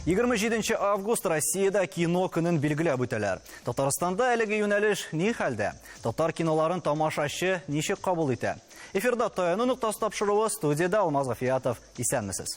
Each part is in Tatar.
Егерме җиденче август Россиядә кино көнен билгеләп үтәләр. Татарстанда әлеге юнәлеш ни хәлдә? Татар киноларын тамашачы ничек кабул итә? Эфирда таяну ноктасы тапшыруы студияда Алмаз Гафиятов. Исәнмесез.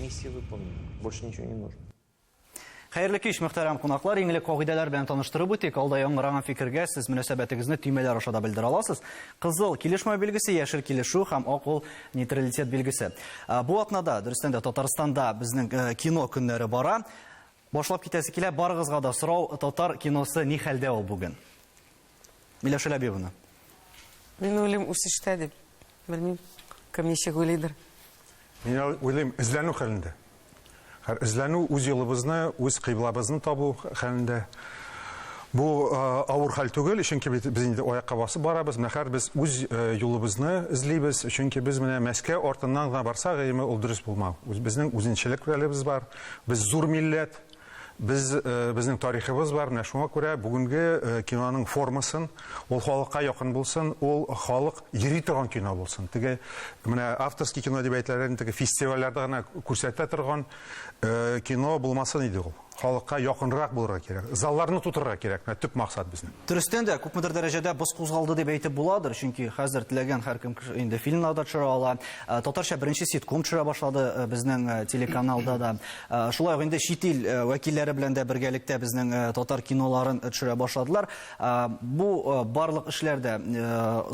Миссия выполнена. Больше ничего не нужно. Хәерле кич, мөхтәрәм кунаклар. Иң элек кагыйдәләр белән таныштырып үтик. Алда яңгыраган фикергә сез мөнәсәбәтегезне төймәләр аша да белдерә аласыз. Кызыл килешмәү билгесе, яшел килешү һәм ак ул нейтралитет билгесе. Э, бу атнада, дөрестән дә, Татарстанда безнең э, кино көннәре бара. Башлап китәсе килә, барыгызга да сорау, татар киносы ни хәлдә ул бүген? Миләүшә Ләбибовна. Мин уйлыйм, үсештә дип. Белмим, кем ничек уйлыйдыр. Мин уйлыйм, эзләнү хәлендә. Хәр эзләнү үз юлыбызны, үз кыйблабызны табу хәлендә. Бу авыр хәл түгел, чөнки без инде аякка басып барабыз. Менә хәр без үз юлыбызны эзлибез, чөнки без менә Мәскәү артыннан гына барсак, гыйме ул дөрес булмау. Безнең үзенчәлекләребез бар. Без зур милләт. Без, безнең тарихыбыз бар, менә шуңа күрә бүгенге киноның формасын, ул халыкка якын булсын, ул халык йөри торган кино булсын. Теге менә авторский кино дип әйтелгән теге фестивальләрдә генә күрсәтә торган кино булмасын иде ул. Халыкка якынрак булырга кирәк. Залларны тутырырга кирәк. Менә төп максат безнең. Дөрестән дә, күпмедер дәрәҗәдә боз кузгалды дип әйтеп буладыр, чөнки хәзер теләгән һәркем инде фильмнарда төшерә ала. Татарча беренче ситком төшерә башлады безнең телеканалда да. Э, шулай ук инде чит ил э, вәкилләре белән дә бергәлектә безнең э, татар киноларын төшерә башладылар бу барлык эшләр дә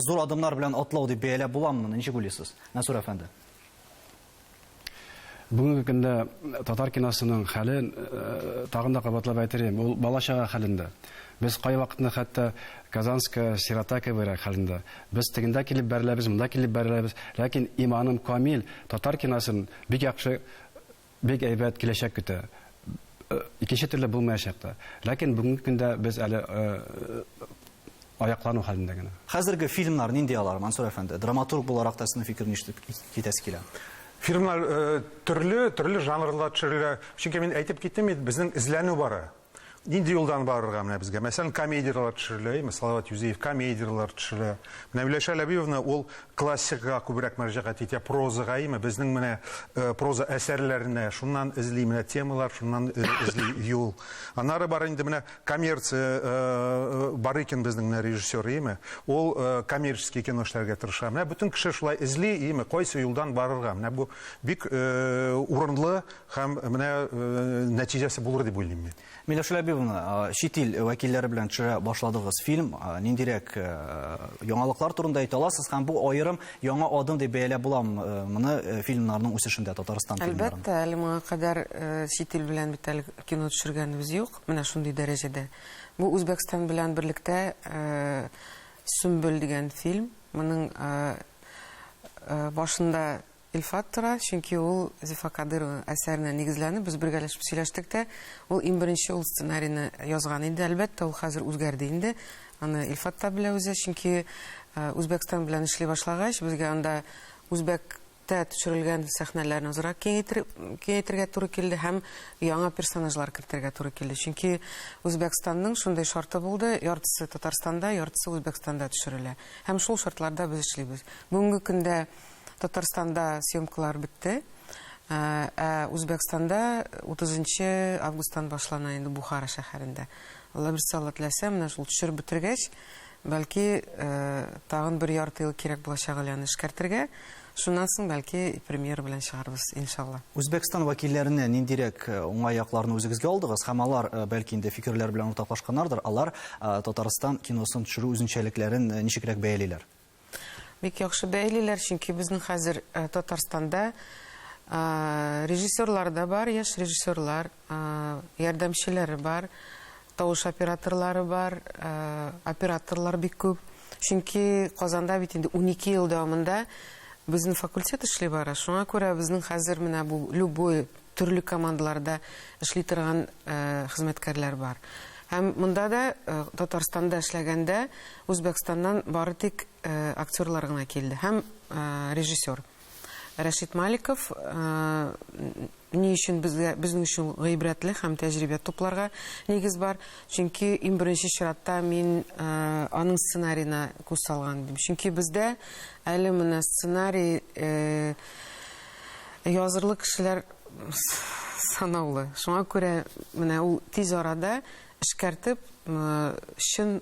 зур адымнар белән атлау дип бәяләп буламы ничек уйлыйсыз мәсүр әфәнде бүгенге көндә татар киносының хәле тагын да кабатлап әйтелем ул бала чага хәлендә без кайвакытны хәтта казанская сирота кебегрәк хәлендә без тегендә килеп бәреләбез монда килеп бәреләбез ләкин иманым камил татар киносын бик яхшы Бик әйбәт киләчәк көтә. Икенче төрле булмаячак та. Ләкин бүгенге көндә без әле аяклану хәлендә генә. Хәзерге фильмнар нинди алар, Мансур әфәнде? Драматург буларак та сезнең фикер нишле китәсе килә? Фильмнар төрле, төрле жанрларда төшерелә. Чөнки мин әйтеп киттем бит, безнең эзләнү бара. Нинди юлдан барырга менә безгә? Мәсәлән, комедияләр төшерелә, әйме? Салават Юзеев комедияләр төшерә. Менә Миләүшә Ләбиевна ул классикага күбрәк мөрәҗәгать итә, прозага, әйме? Безнең менә э, проза әсәрләренә шуннан эзли менә темалар, шуннан э, эзли юл. Аннары бар инде менә коммерция э, э бар икән безнең менә режиссер, әйме? Ул э, коммерческий кино эшләргә тырыша. Менә бөтен кеше шулай эзли, әйме? Кайсы юлдан барырга? Менә бу бик э, урынлы Һәм менә нәтиҗәсе булыр дип уйлыйм мин. Миләүшә Ләбибовна, чит ил вәкилләре белән төшерә башладыгыз фильм. Ниндирәк яңалыклар турында әйтә аласыз һәм бу аерым яңа адым дип бәяләп буламы моны фильмнарның үсешендә Татарстан фильмнарының? Әлбәттә, әле моңа кадәр чит ил белән бит әле кино төшергәнебез юк, менә шундый дәрәҗәдә. Бу Үзбәкстан белән берлектә Сөмбел дигән фильм. Моның башында Илфат тора, чөнки ул Зифа Кадырова әсәренә нигезләнеп, без бергәләшеп сөйләштек тә, ул иң беренче ул сценарийны язган иде. Әлбәттә, ул хәзер үзгәрде инде, аны Илфат та белә үзе, чөнки Үзбәкстан белән эшли башлагач, безгә анда үзбәктә төшерелгән сәхнәләрне азрак киңәйтергә туры килде һәм яңа персонажлар кертергә туры килде. Чөнки Үзбәкстанның шундый шарты булды, яртысы Татарстанда, яртысы Үзбәкстанда төшерелә. Һәм шул шартларда без эшлибез. Бүгенге көндә Татарстанда съемкалар бетте. Ә ә Үзбәкстанда 30 нчы августтан башлана инде Бухара шәһәрендә. Алла берсе Алла теләсә, менә шул төшереп бетергәч, бәлки, ә тагын бер ярты ел кирәк булачак әле аны эшкәртергә. Шуннан соң, бәлки, премьера белән чыгарбыз, иншалла. Үзбәкстан вәкилләреннән ниндирәк уңай якларны үзегезгә алдыгыз? Һәм алар, бәлки инде, фикерләр белән уртаклашканнардыр, алар Татарстан киносын төшерү үзенчәлекләрен ничегрәк бәялиләр? Бик яхшы бәйлиләр, чөнки безнең хәзер э, Татарстанда э, режиссерлар да бар, яшь режиссерлар, э, ярдәмчеләре бар, тавыш операторлары бар, операторлар бик күп. Чөнки Казанда бит инде 12 ел дәвамында безнең факультет эшли бара. Шуңа күрә безнең хәзер менә бу любой төрле командаларда эшли торган хезмәткәрләр бар. Һәм монда да, Татарстанда эшләгәндә, Үзбәкстаннан бары тик актерлар гына килде һәм режиссер. Рәшит Маликов ни өчен безгә, безнең өчен гыйбрәтле һәм тәҗрибә тупларга нигез бар? Чөнки иң беренче чиратта мин аның сценарина күз салган идем. Чөнки бездә әле менә сценарий Язырлык кешеләр санаулы. Шуңа күрә менә ул тиз арада эшкәртеп, чын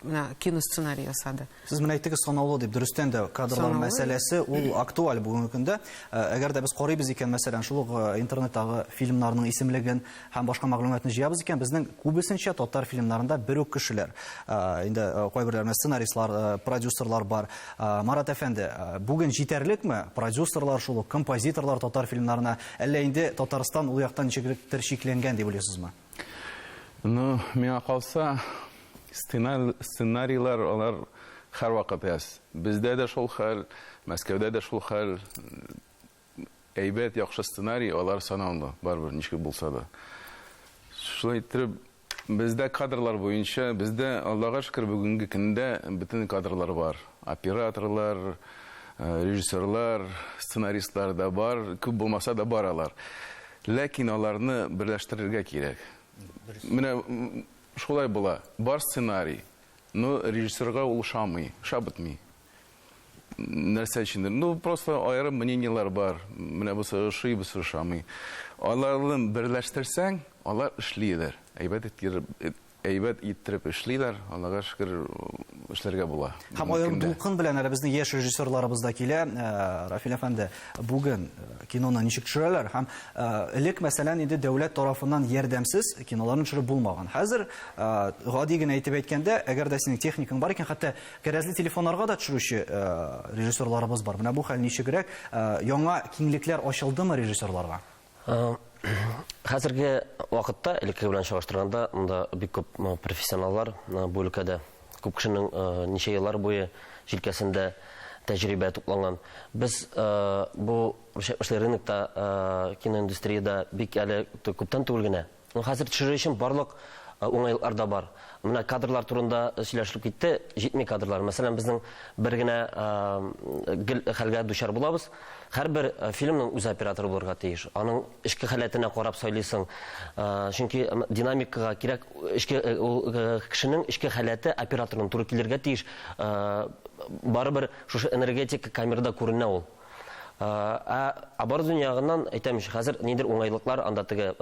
менә киносценарий ясады. Сез менә әйттегез санаулы дип, дөрестән дә кадрлар мәсьәләсе ул актуаль бүгенге көндә. Әгәр дә без карыйбыз икән, мәсәлән, шул ук интернеттагы фильмнарның исемлеген, һәм башка мәгълүматны җыябыз икән, безнең күбесенчә татар фильмнарында бер үк кешеләр. Инде кайберләренә сценаристлар, продюсерлар бар. Марат әфәнде, бүген җитәрлекме продюсерлар шул ук, композиторлар татар фильмнарына? Әллә инде Татарстан ул яктан ничегректер чикләнгән дип уйлыйсызмы? Ну, миңа калса, сценарийлар алар һәрвакыт әз. Бездә дә шул хәл, Мәскәүдә дә шул хәл. Әйбәт, яхшы сценарий, алар санаулы, барыбер, ничек булса да. Шулай иттереп, бездә кадрлар буенча, бездә, Аллага шөкер, бүгенге көндә бөтен кадрлар бар. Операторлар, э, режиссерлар, сценаристлар да бар, күп булмаса да бар алар. Ләкин аларны берләштерергә кирәк. Менә шулай була. Бар сценарий, но режиссерга ул ошамый, ошап бетми. нәрсә өчендер. Ну, просто аерым мнениелар бар. Менә бусы ошый, бусы ошамый. Аларны берләштерсәң, алар эшлиләр. Әйбәт иттереп, әйбәт иттереп эшлиләр. Аллага шөкер, эшләргә була. Һәм аерым дулкын белән әле безнең яшь режиссерларыбыз да килә. Э, Рафил әфәнде, бүген э, киноны ничек төшерәләр? Һәм э, элек, мәсәлән, инде дәүләт тарафыннан ярдәмсез киноларны төшереп булмаган. Хәзер гади генә әйтеп әйткәндә, әгәр дә синең техникаң бар икән, хәтта Кәрәзле телефоннарга да төшерүче режиссерларыбыз бар. Менә бу хәл ничегрәк? Яңа киңлекләр ачылдымы режиссерларга? Хәзерге вакытта элекке белән чагыштырганда монда бик күп профессионаллар бу өлкәдә. Күп кешенең ничә еллар буе җилкәсендә тәҗрибә тупланган. Без бу эшле рынокта киноиндустриядә бик әле күптән түгел генә Хәзер төшерер өчен барлык уңайлыклар да бар. Менә кадрлар турында сөйләшелеп китте, җитми кадрлар. Мәсәлән, безнең бер генә гел хәлгә дучар булабыз. Һәрбер фильмның үз операторы булырга тиеш. Аның эчке халәтенә карап сайлыйсың. Чөнки динамикага кирәк эчке ул кешенең эчке халәте операторның туры килергә тиеш. Барыбер шушы энергетика камерада күренә ул. Ә оборудование ягыннан әйтәм ич, хәзер нидер уңайлыклар анда теге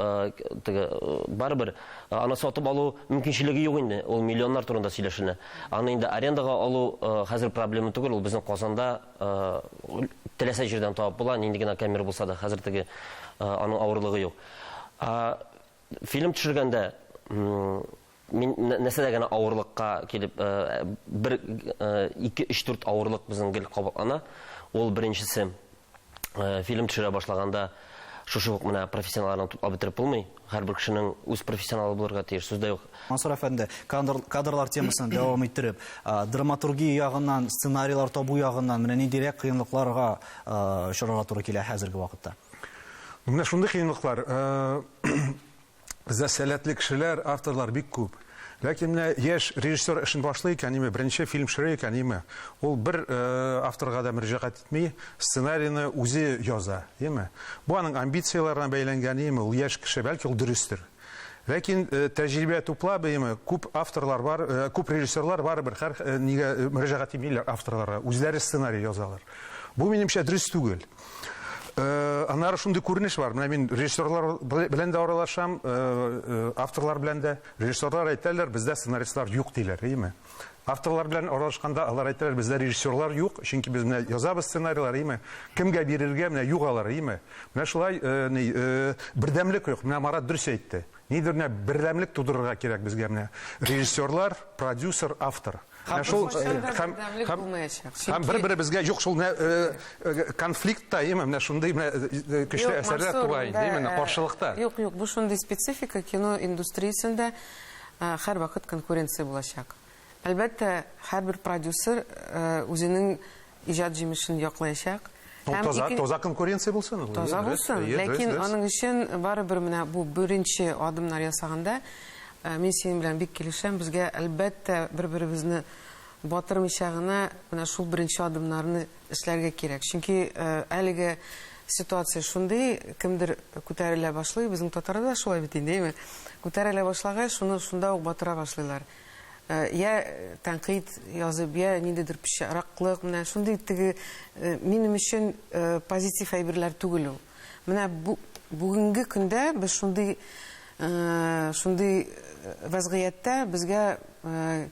теге барыбер аны сатып алу мөмкинчелеге юк инде. Ул миллионнар турында сөйләшенә. Аны инде арендага алу хәзер проблема түгел, ул безнең Казанда теләсә җирдән табып була, нинди генә камера булса да, хәзер теге аның авырлыгы юк. Фильм төшергәндә Мин нәрсәдә генә авырлыкка килеп, бер, ике, өч, дүрт авырлык безнең гел кабатлана. Ул беренчесе, фильм төшерә башлаганда, шушы ук менә профессионалларны туплап бетереп булмый. Һәрбер кешенең үз профессионалы булырга тиеш, сүз дә юк. Мансур әфәнде, кадрлар темасын дәвам иттереп, драматургия ягыннан, сценарийлар табу ягыннан менә ниндирәк кыенлыкларга очрарга туры килә хәзерге вакытта? Менә шундый кыенлыклар, Бездә сәләтле кешеләр, авторлар бик күп. Ләкин менә яшь режиссер эшен башлый икән, ниме, беренче фильм төшерә икән, ниме, ул бер э, авторга да мөрәҗәгать итми, сценарийны үзе яза, яме. Бу аның амбицияләренә бәйләнгән, яме, ул яшь кеше, бәлки ул дөрестер. Ләкин э, тәҗрибә туплап, яме, күп авторлар бар, э, күп режиссерлар бар бер хәр э, нигә э, мөрәҗәгать итмиләр авторларга, үзләре сценарий язалар. Бу минемчә дөрес түгел. Аннары шундый күренеш бар. Менә мин режиссерлар белән дә аралашам, авторлар белән дә. Режиссерлар әйтәләр, бездә сценаристлар юк диләр, әйеме? Авторлар белән аралашканда алар әйтәләр, бездә режиссерлар юк, чөнки без менә язабыз сценарийлар, әйеме? Кемгә бирергә, менә юк алар, әйеме? Менә шулай ни бердәмлек юк. Менә Марат дөрес әйтте. Нидер менә бердәмлек тудырырга кирәк безгә менә. Режиссерлар, продюсер, автор. Һәм шул һәм һәм бер-беребезгә юк шул менә э, э, конфликтта, яме, менә шундый менә э, көчле әсәрләр туа инде, менә каршылыкта. Юк, юк, бу шундый специфика кино индустриясендә һәрвакыт конкуренция булачак. Әлбәттә, һәрбер продюсер үзенең иҗат җимешен яклаячак. Ну, Һәм таза, ике- таза конкуренция булсын. ул, Таза дөрес, булсын, әйе, дөрес, ләкин дөрес. аның өчен барыбер менә бу беренче адымнар ясаганда э, мин синең белән бик килешәм. Безгә әлбәттә бер-беребезне батырмыйча гына менә шул беренче адымнарны эшләргә кирәк. Чөнки э, әлеге ситуация шундый, кемдер күтәрелә башлый, безнең татарда да шулай бит инде, әйме? Күтәрелә башлагач, шуны шунда ук батыра башлыйлар. Йә тәнкыйть язып, йә ниндидер пычраклык, менә шундый теге минем өчен позитив әйберләр түгел ул. Менә бу бүгенге көндә без шундый шундый вәзгыятьтә безгә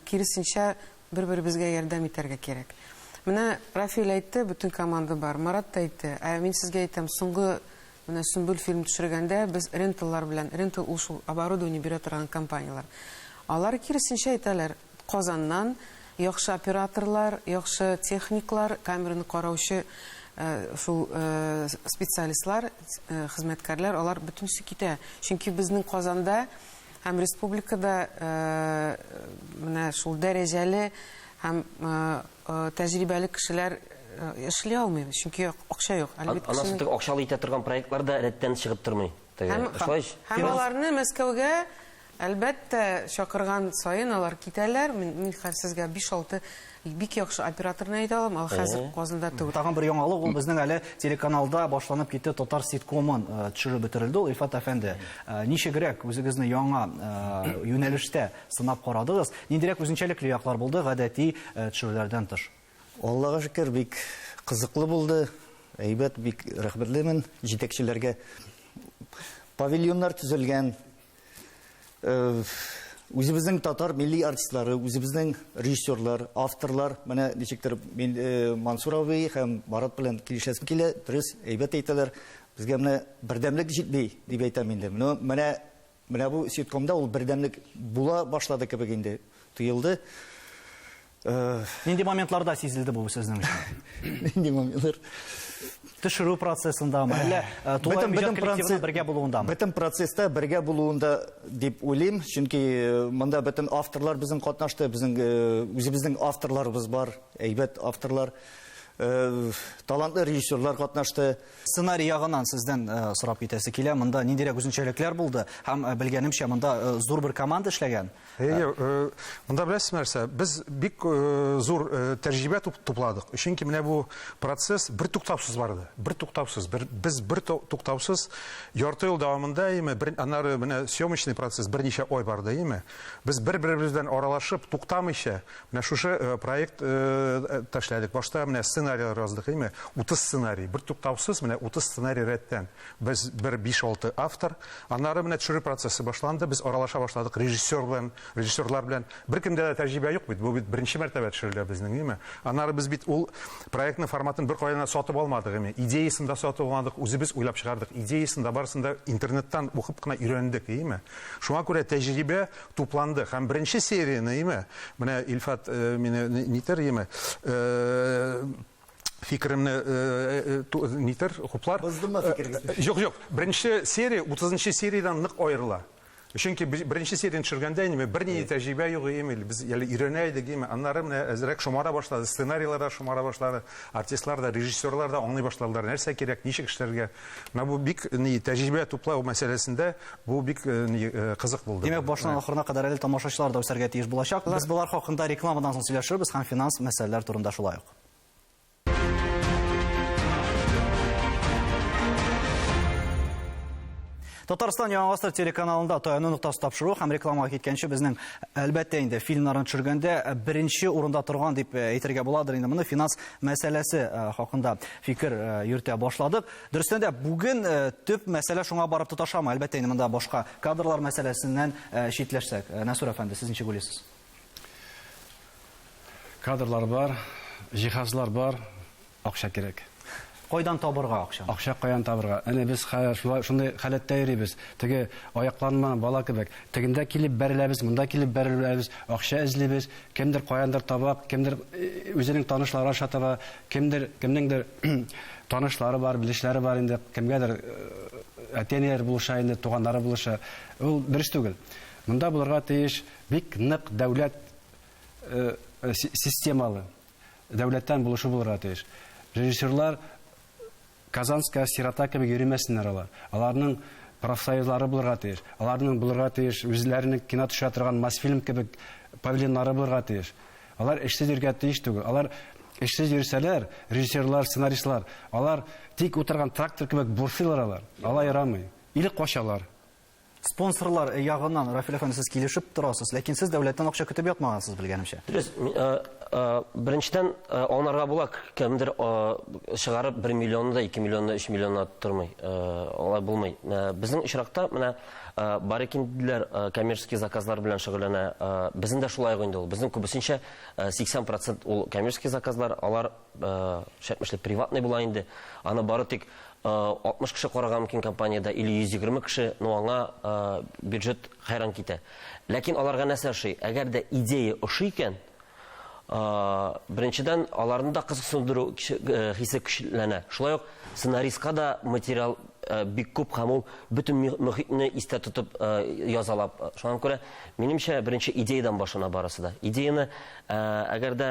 киресенчә бер-беребезгә ярдәм итәргә кирәк. Менә Рафиль әйтте, бөтен команда бар, Марат та әйтте. Ә мин сезгә әйтәм, соңгы Менә Сөмбел фильм төшергәндә без ренталлар белән, рентал ул шул оборудование бирә торган компанияләр. Алар киресенчә әйтәләр, Казаннан яхшы операторлар, яхшы техниклар, камераны караучы шул специалистлар, хезмәткәрләр, алар бөтенесе китә. Чөнки безнең Казанда Һәм республикада менә шул дәрәҗәле һәм тәҗрибәле кешеләр эшли алмый, чөнки акча юк. Анасы акчалы итә торган проектлар да рәттән чыгып тормый. Һәм аларны Мәскәүгә, әлбәттә, чакырган саен алар китәләр. Мин хәзер сезгә 5-6 Бик яхшы операторны әйтә алам, ал хәзер Казанда түгел. Тагын бер яңалык ул безнең әле телеканалда башланып китте татар ситкомын э, төшереп бетерелде ул Илфат әфәнде. Э, ничегрәк үзегезне яңа э, юнәлештә сынап карадыгыз? Ниндирәк үзенчәлекле яклар булды гадәти төшерүләрдән тыш? Аллага шөкер, бик кызыклы булды. Әйбәт, бик рәхмәтлемен җитәкчеләргә. Павильоннар төзелгән, Үзебезнең татар милли артистлары, үзебезнең режиссерлар, авторлар, менә ничектер мин э, Мансур абый һәм Марат белән килешәсем килә, дөрес, әйбәт әйтәләр. Безгә менә бердәмлек җитми, дип әйтәм инде. Менә менә менә бу ситкомда ул бердәмлек була башлады кебек инде тоелды. Нинди моментларда сизелде бу сезнең өчен? Нинди моментлар? Төшерү процессындамы, әллә э, тулай иҗат коллективының бергә булуындамы? Бөтен процесста бергә булуында дип уйлыйм, чөнки э, монда бөтен авторлар безнең катнашты, безнең э, үзебезнең авторларыбыз бар, әйбәт авторлар. Э, талантлы режиссерлар катнашты. Сценарий ягынан сездән э, сорап китәсе килә. Монда ниндирәк үзенчәлекләр булды? Һәм э, белгәнемчә, монда зур бер команда эшләгән. Әйе, э, монда беләсез нәрсә, без бик э, зур э, тәҗрибә тупладык. Чөнки менә бу процесс бер туктаусыз барды. Бер туктаусыз, бер без бер туктаусыз ярты ел дәвамында яме, бер аннары менә съемочный процесс берничә ой барды яме. Без бер-беребез белән аралашып, туктамыйча менә шушы проект ташләдек. Башта менә сценарий яздык яме, 30 сценарий, бер туктаусыз менә 30 сценарий рәттән. Без бер биш-алты автор. Аннары менә төшерү процессы башланды. Без аралаша башладык режиссер белән, режиссерлар белән. Беркемдә дә тәҗрибә юк бит. Бу бит беренче мәртәбә төшерелә безнең, юме? Аннары без бит ул проектның форматын беркайдан да сатып алмадык, юме? Идеясын да сатып алмадык, үзебез уйлап чыгардык. Идеясын да, барысын да интернеттан укып кына өйрәндек, юме? Шуңа күрә тәҗрибә тупланды. Һәм беренче серияне, юме, менә Илфат мине нитер, юме, фикеремне э, э, э, нитер хуплар боздымы фикерегезне жок жок беренче серия утызынчы сериядан нык аерыла чөнки беренче серияны төшергәндә инде бернинди тәҗрибә юк ими без әле өйрәнә идек ими аннары менә әзрәк шомара башлады сценарийлар да шомара башлады артистлар да режиссерлар да аңлый башладылар нәрсә кирәк ничек эшләргә менә бу бик ни тәҗрибә туплау мәсьәләсендә бу бик ни кызык булды димәк башынан ахырына кадәр әле тамашачылар да үсәргә тиеш булачак без болар хакында рекламадан соң сөйләшербез һәм финанс мәсьәләләр турында шулай ук Татарстан яңа гасыр телеканалында таяну ноктасы тапшыру һәм рекламага киткәнче безнең әлбәттә инде фильмнарын төшергәндә э, беренче урында торган дип э, әйтергә буладыр инде моны финанс мәсьәләсе э, хакында фикер йөртә башладык. Дөрестән дә бүген төп мәсьәлә шуңа барып тоташамы? Әлбәттә инде монда башка кадрлар мәсьәләсеннән читләшсәк. Насур әфәнде, сез ничек уйлыйсыз? Кадрлар бар, җиһазлар бар, акча кирәк. Кайдан табырга акчаны? Акча каян табырга? Әнә без хәзер шулай шундый халәттә йөрибез. Теге аякланмаган бала кебек. Тегендә килеп бәреләбез, монда килеп бәреләбез, акча эзлибез. Кемдер каяндыр таба, кемдер э, үзенең танышлары аша таба, кемдер кемнеңдер танышлары бар, белешләре бар инде, кемгәдер э, әти-әниләре булыша инде, туганнары булыша. Ул дөрес түгел. Монда булырга тиеш Бик нык дәүләт системалы, дәүләттән булышу булырга тиеш. Режиссерлар Казанская сирота кебек йөримәсеннәр алар. Аларның профсоюзлары булырга тиеш. Аларның булырга тиеш үзләренең кино төшерә торган Мосфильм кебек павильоннары булырга тиеш. Алар эшсез йөргә тиеш түгел. Алар эшсез йөрсәләр, режиссерлар, сценаристлар, алар тик утырган трактор кебек бурсыйлар алар. Алай ярамый. Или качалар. Спонсорлар ягыннан, Рафил әфәнде, сез килешеп торасыз, ләкин сез дәүләттән акча көтеп ятмагансыз, белгәнемчә. Дөрес, беренчедән аңларга була, кемдер чыгарып бер миллионны да, ике миллионны, өч миллионны тормый, алай булмый. Безнең очракта менә бар икән диделәр, коммерческий заказлар белән шөгыльләнә. Безнең дә шулай ук инде ул. Безнең күбесенчә 80% ул коммерческий заказлар, алар Шәпмешли приватный була инде. Аны бары тик 60 кеше карарга мөмкин компаниядә или 120 кеше, ну аңа бюджет хәйран китә. Ләкин аларга нәрсә ошый? Әгәр дә идея ошый икән, беренчедән, аларны да кызыксындыру хисе көчләнә. Шулай ук сценаристка да материал бик күп һәм ул бөтен мөхитне истә тотып язала. Шуңа күрә, минемчә, беренче идеядан башлана барысы да. Идеяны әгәр дә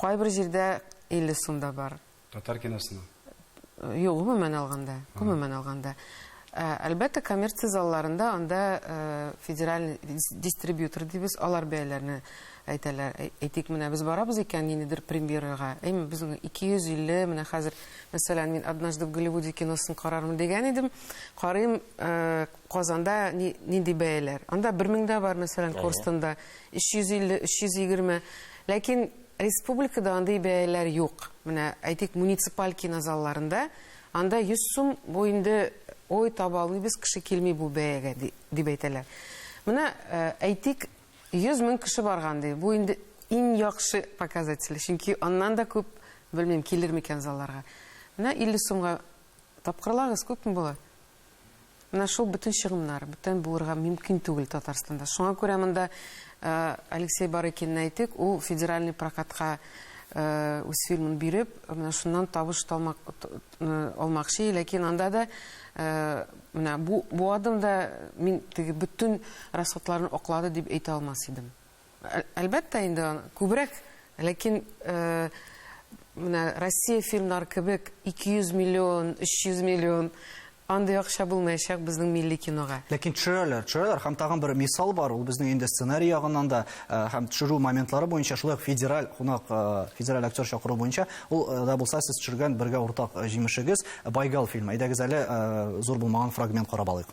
Кайбер җирдә 50 сум да бар. Татар киносына? Юк, гомумән алганда. Гомумән алганда. Ә, әлбәттә, коммерция залларында анда ә, федераль дистрибьютор дибез, алар бәяләрне әйтәләр. Әйтик, менә без барабыз икән ниндидер премьерага. Әйме, без 250, менә хәзер, мәсәлән, мин Однажды в Голливуде киносын карармын дигән идем. Карыйм, ә, Казанда ни, нинди бәяләр? Анда бер мең дә бар, мәсәлән, Корстонда, 350, 320. Ләкин республикада андый бәяләр юк. Менә, әйтик, муниципаль кинозалларында, анда 100 сум, бу инде, ой, таба алмыйбыз, кеше килми бу бәягә, ди, дип әйтәләр. Менә, э, әйтик, 100 мең кеше барган, ди, бу инде иң яхшы показатель, чөнки аннан да күп, белмим, килер микән залларга. Менә 50 сумга тапкырлагыз, күпме була? Менә шул бөтен чыгымнар, бүтән булырга мөмкин түгел Татарстанда. Шуңа күрә монда Алексей Барыкинны әйтик, ул федеральный прокатка үз фильмын биреп, менә шуннан табыш талмак, алмакчы, ләкин анда да менә бу, бу адымда мин теге бөтен расходларны аклады дип әйтә алмас идем. Әлбәттә инде, күбрәк, ләкин менә Россия фильмнары кебек 200 миллион, 300 миллион андый акча булмаячак безнең милли кинога. Ләкин төшерәләр, төшерәләр һәм тагын бер мисал бар, ул безнең инде сценарий ягыннан да һәм төшерү моментлары буенча шулай ук федераль кунак, федераль актер чакыру буенча, ул да булса сез төшергән бергә уртак җимешегез Байгал фильмы. Әйдәгез әле зур булмаган фрагмент карап алыйк.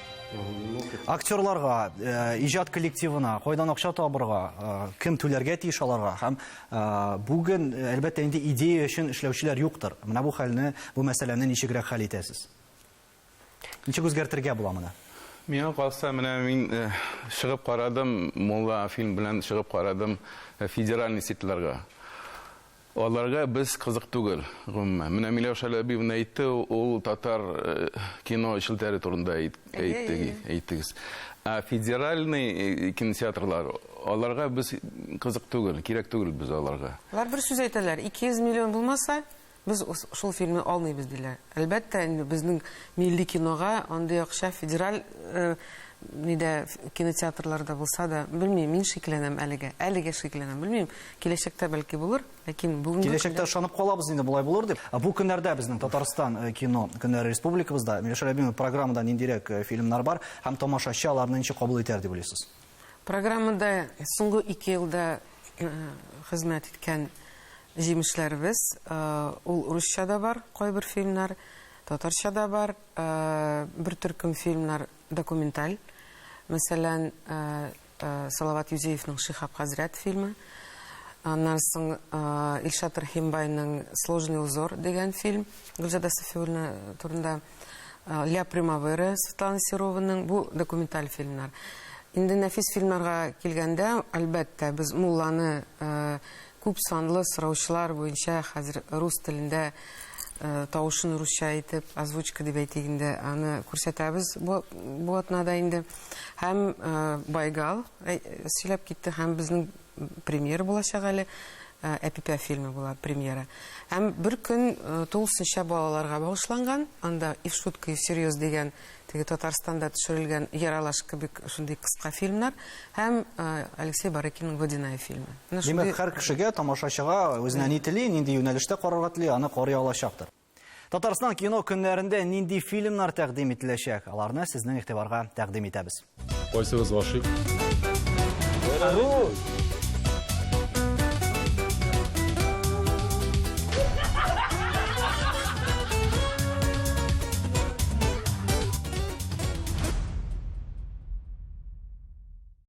Актерларга, э, иҗат коллективына кайдан акча табырга, э, кем түләргә тиеш аларга һәм э, бүген әлбәттә инде идея өчен эшләүчеләр юктыр. Менә бу хәлне, бу мәсьәләне ничегрәк хәл итәсез? Ничек үзгәртергә була моны? Миңа калса, менә мин чыгып карадым, Мулла фильм белән чыгып карадым федеральный сетьларга. Аларга без кызык түгел, гомумән. Менә Миләүшә Ләбибовна әйтте, ул татар кино челтәре турында әйттегез. Ә федеральный кинотеатрлар, аларга без кызык түгел, кирәк түгел без аларга. Алар бер сүз әйтәләр, 200 миллион булмаса, без шул фильмны алмыйбыз, диләр. Әлбәттә инде безнең милли кинога андый акча федераль нидә кинотеатрларда булса да, белмим, мин шикләнәм әлегә. Әлегә шикләнәм, белмим, киләчәктә бәлки булыр, ләкин бүгенге көндә... Киләчәктә ышанып калабыз инде болай булыр дип. Бу көннәрдә безнең Татарстан э, кино көннәре республикабызда Миләүшә Рәбимова программада ниндирәк э, фильмнар бар һәм тамашачы аларны ничек кабул итәр дип уйлыйсыз? Программада соңгы ике елда хезмәт иткән җимешләребез, ул урысча да бар, кайбер фильмнар, татарча да бар, бер төркем фильмнар документаль. Мәсәлән, Салават Юзеевның Шихаб хәзрәт фильмы. Аннан соң Илшат Рәхимбайның Сложный узор дигән фильм Гөлҗада Сафиуллина турында. Ля Примавера Светлана Серованың бу документаль фильмнар. Инде нәфис фильмнарга килгәндә, әлбәттә, без Мулланы э, күп санлы сораучылар буенча хәзер рус телендә э, тавышын русча итеп, озвучка дип әйтик инде, аны күрсәтәбез бу, бу атнада инде. Һәм э, Байгал э, сөйләп китте, һәм безнең премьера булачак әле. Э, Әпипә фильмы була премьера. Һәм бер көн э, тулысынча балаларга багышланган. Анда и в шутку, и всерьез дигән теге Татарстанда төшерелгән яралаш кебек шундый кыска фильмнар һәм э, Алексей Барыкинның Водяная фильмы. Менә Димәк, шундый- һәр кешегә, тамашачыга үзенә ни тели, нинди юнәлештә карарга тели, аны карый алачактыр. Татарстан кино көннәрендә нинди фильмнар тәкъдим ителәчәк? Аларны сезнең игътибарга тәкъдим итәбез. Кайсыгыз гашыйк?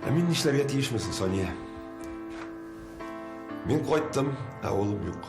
Ә мин нишләргә тиешмен соң, Сания? Мин кайттым, ә улым юк.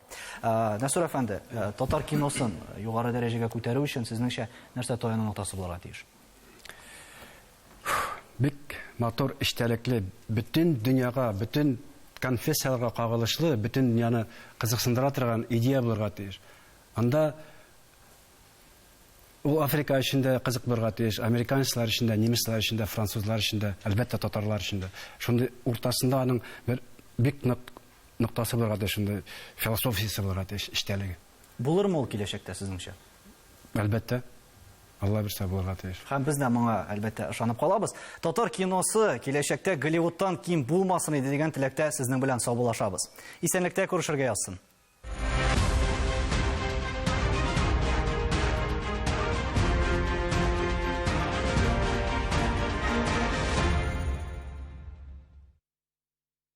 Нәсүр әфәнде, татар киносын югары дәрәҗәгә күтәрү өчен сезнеңчә нәрсә таяну ноктасы булырга тиеш? Бик матур, эчтәлекле, бөтен дөньяга, бөтен конфессияләргә кагылышлы, бөтен дөньяны кызыксындыра торган идея булырга тиеш. Анда ул Африка өчен дә кызык булырга тиеш, американецлар өчен дә, немецлар өчен дә, французлар өчен дә, әлбәттә, татарлар өчен дә. Шундый уртасында аның бер бик нык ноктасы булырга тиеш, шундый философиясе булырга тиеш эчтәлеге. Булырмы ул киләчәктә, сезнеңчә? Әлбәттә. Алла бирсә булырга тиеш. Һәм без дә моңа, әлбәттә, ышанып калабыз. Татар киносы киләчәктә Голливудтан ким булмасын иде дигән теләктә сезнең белән саубуллашабыз. Исәнлектә күрешергә язсын.